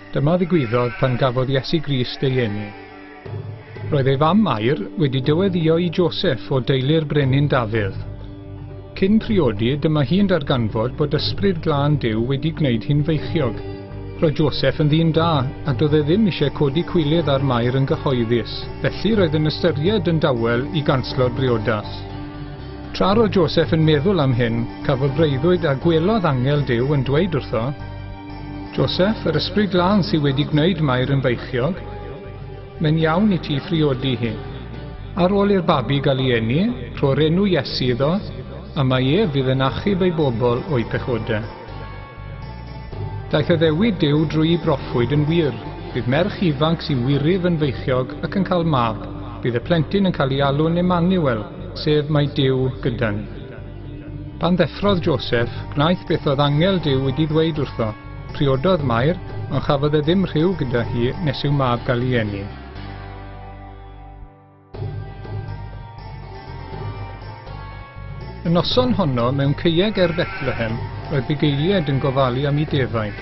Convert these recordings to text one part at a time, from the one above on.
Dyma ddigwyddodd pan gafodd Iesu Grist ei eni. Roedd ei fam Mair wedi dyweddio i Joseph o deulu'r brenin Dafydd. Cyn priodi, dyma hi'n darganfod bod Ysbryd Glân Duw wedi gwneud hi'n feichiog. Roedd Joseph yn ddyn da, a doedd e ddim eisiau codi cwilydd â'r Mair yn gyhoeddus, felly roedd yn ystyried yn dawel i ganslo'r briodas. Tra roedd Joseph yn meddwl am hyn, cafodd breuddwyd a gwelodd angel Duw yn dweud wrtho, Joseph, yr Ysbryd Glân sydd wedi gwneud Mair yn feichiog, Mae'n iawn i ti phriodi hi. Ar ôl i'r babi gael ei eni, rho'r enw Iesu iddo, a mae ef fydd yn achub ei bobl o'u pechodau. Daeth addewid Duw drwy'i broffwyd yn wir, bydd merch ifanc sy'n wiryf yn feichiog ac yn cael mab, bydd y plentyn yn cael ei alw'n Emmanuel, sef Mae Duw gyda ni. Pan ddeffrodd Joseph, gwnaeth beth oedd angel Duw wedi ddweud wrtho. Priododd Mair, ond chafodd e ddim rhyw gyda hi nes i'w mab gael ei eni. Y noson honno, mewn ceieg er Bethlehem, roedd bugeiliaid yn gofalu am i defaid.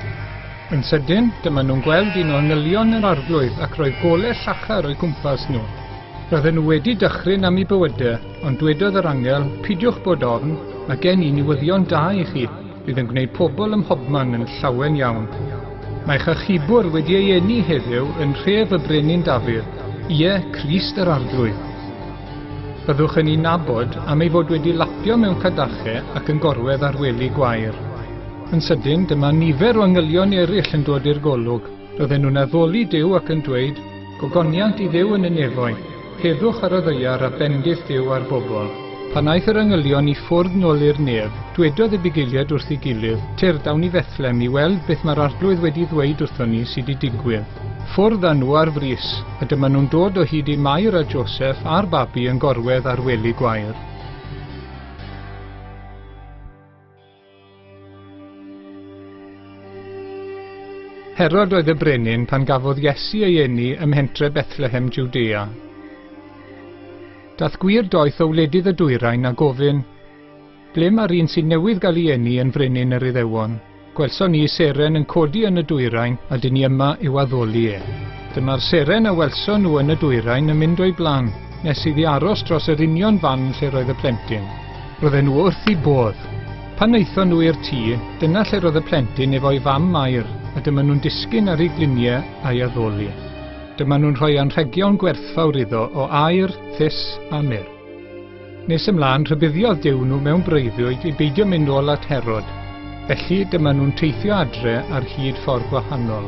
Yn sydyn, dyma nhw'n gweld un o angylion yr arglwydd ac roedd gole llachar o'i gwmpas nhw. Roedden nhw wedi dychryn am ei bywydau, ond dwedodd yr angel, pidiwch bod ofn, mae gen i niwyddion da i chi. Bydd yn gwneud pobl ym mhobman yn llawen iawn. Mae chachubwr wedi ei eni heddiw yn nhref y Brenin Dafydd, ie, Crist yr Arglwydd. Byddwch yn ei nabod am ei fod wedi lapio mewn cadachau ac yn gorwedd ar wely gwair. Yn sydyn, dyma nifer o angylion eraill yn dod i'r golwg. Roedden nhw'n addoli Duw ac yn dweud, Gogoniant i Dduw yn y nefoedd. Heddwch ar y ddaear a bendith Duw ar bobl. Pan aeth yr angylion i ffwrdd nol i'r nef, dwedodd ei bugeiliad wrth ei gilydd, Tyrd, awn i Fethlem i weld beth mae'r Arglwydd wedi ddweud wrthon ni sy 'di digwydd. Ffwrdd â nhw ar frys, a dyma nhw'n dod o hyd i Mair a Joseff a'r babi yn gorwedd ar wely gwair. Herod oedd y brenin pan gafodd Iesu ei eni ym mhentre Bethlehem Judea. Dath gwir doeth o wledydd y dwyrain a gofyn, Ble mae'r un sy'n newydd gael ei eni yn frenin yr Iddewon? Gwelson ni seren yn codi yn y dwyrain a dyn ni yma i'w addoli e. Dyma'r seren a welson nhw yn y dwyrain yn mynd o'i blan, nes iddi aros dros yr union fan lle roedd y plentyn. Roedden nhw wrth eu bodd. Pan wnaethon nhw i'r tŷ, dyna lle roedd y plentyn efo'i fam Mair a dyma nhw'n disgyn ar ei gliniau a'i addoli. Dyma nhw'n rhoi anrhegion gwerthfawr iddo o aer, thus a myrrh. Nes ymlaen, rhybuddiodd Duw nhw mewn breuddwyd i beidio mynd nôl at Herod, felly dyma nhw'n teithio adre ar hyd ffordd gwahanol.